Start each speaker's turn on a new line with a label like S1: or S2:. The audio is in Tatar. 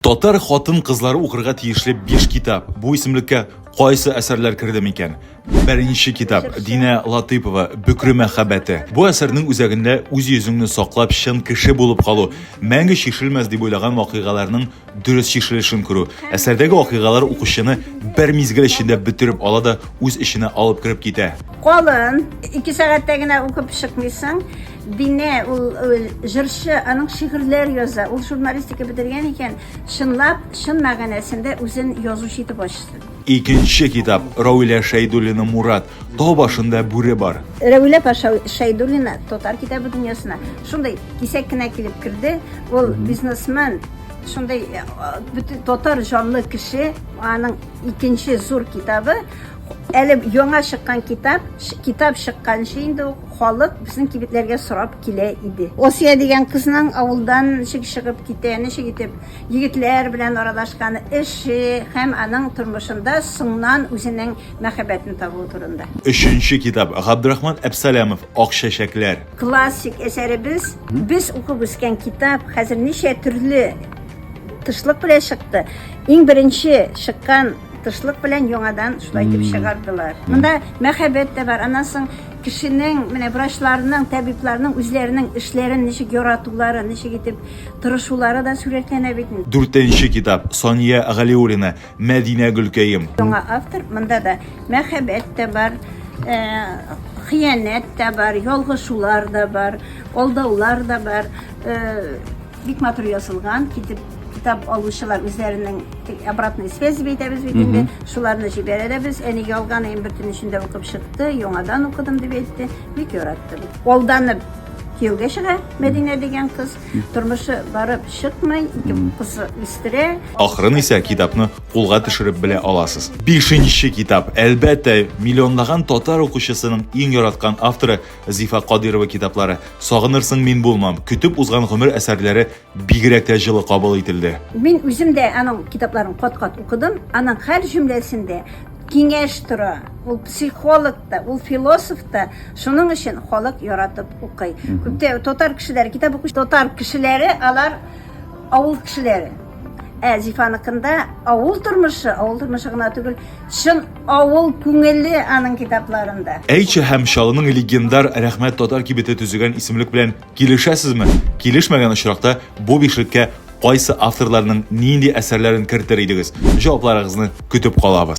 S1: Татар хатын-кызлары укырга тиешле биш китап. Бу исемлеккә кайсы әсәрләр керде микән? Беренче китап Динә Латыйпова Бөкре мәхәббәте. Бу әсәрнең үзәгендә үз йөзеңне саклап чын кеше булып калу, мәңге чишелмәс дип уйлаган вакыйгаларның дөрес чишелешен күрү. Әсәрдәге вакыйгалар укучыны бер мизгел эчендә бөтереп ала да үз эченә алып кереп китә. Калын,
S2: ике сәгатьтә генә укып чыкмыйсың. Динә ул җырчы, аның шигырьләр яза. Ул журналистика бетергән икән, чынлап, чын мәгънәсендә үзен язучы итеп ачсын. Икенче китап,
S1: Равилә Шәйдуллина Мурат, тау башында бүре бар. Равилә апа
S2: Шәйдуллина татар китабы дөньясына шундый кисәк кенә килеп керде. Ул бизнесмен, шундый бөтен татар җанлы кеше. Аның икенче зур китабы, Әле яңа чыккан китап, китап чыкканчы инде ук халык безнең кибетләргә сорап килә иде. Осия дигән кызның авылдан ничек чыгып китә, ничек итеп егетләр белән аралашканы, эше һәм аның тормышында соңнан үзенең мәхәббәтен табуы турында. Өченче китап,
S1: Габдрахман Әпсәләмов, Ак чәчәкләр. Классик
S2: әсәребез, без укып үскән китап хәзер ничә төрле тышлык белән чыкты. Иң беренче чыккан Тышлык белән яңадан шулай итеп чыгардылар. Монда мәхәббәт тә бар. Аннан соң кешенең, менә врачларның, табибларның үзләренең эшләрен ничек яратулары, ничек итеп тырышулары да сурәтләнә бит. Дүртенче китап,
S1: Сания Галиуллина, Мәдинә Гөлкәем. Яңа автор, монда
S2: да мәхәббәт тә бар, э, хыянәт тә бар, ялгышулар да бар, алдаулар да бар. Э, Бик матур язылган, китеп китап алучылар үзләренең обратный связь бейтәбез бит инде. Шуларны җибәрәбез. Әни ялган әйм бертен эчендә укып чыкты, яңадан укыдым дип әйтте. Бик яратты. Алданып кияүгә чыга Мәдинә дигән кыз. Тормышы барып чыкмый, ике кыз үстерә. Ахырын исә
S1: китапны кулга төшереп белә аласыз. Бишенче китап, әлбәттә, миллионлаган татар укучысының иң яраткан авторы Зифа Кадыйрова китаплары Сагынырсың мин булмам, Көтеп узган гомер әсәрләре бигрәк тә җылы кабул ителде. Мин үзем дә
S2: аның китапларын кат-кат укыдым. Аның һәр җөмләсендә киңәш тора. Ул психолог та, ул философ та. Шуның өчен халык яратып укый. Күптә татар кешеләре, китап укучы татар кешеләре, алар авыл кешеләре. Ә Зифаныкында авыл тормышы, авыл тормышы гына түгел, чын Авыл күңеле аның китапларында. Әйче һәм Чаллының
S1: легендар Рәхмәт татар кибете төзегән исемлек белән килешәсезме? Килешмәгән очракта, бу бишлеккә кайсы авторларның нинди әсәрләрен кертер идегез? Җавапларыгызны көтеп калабыз.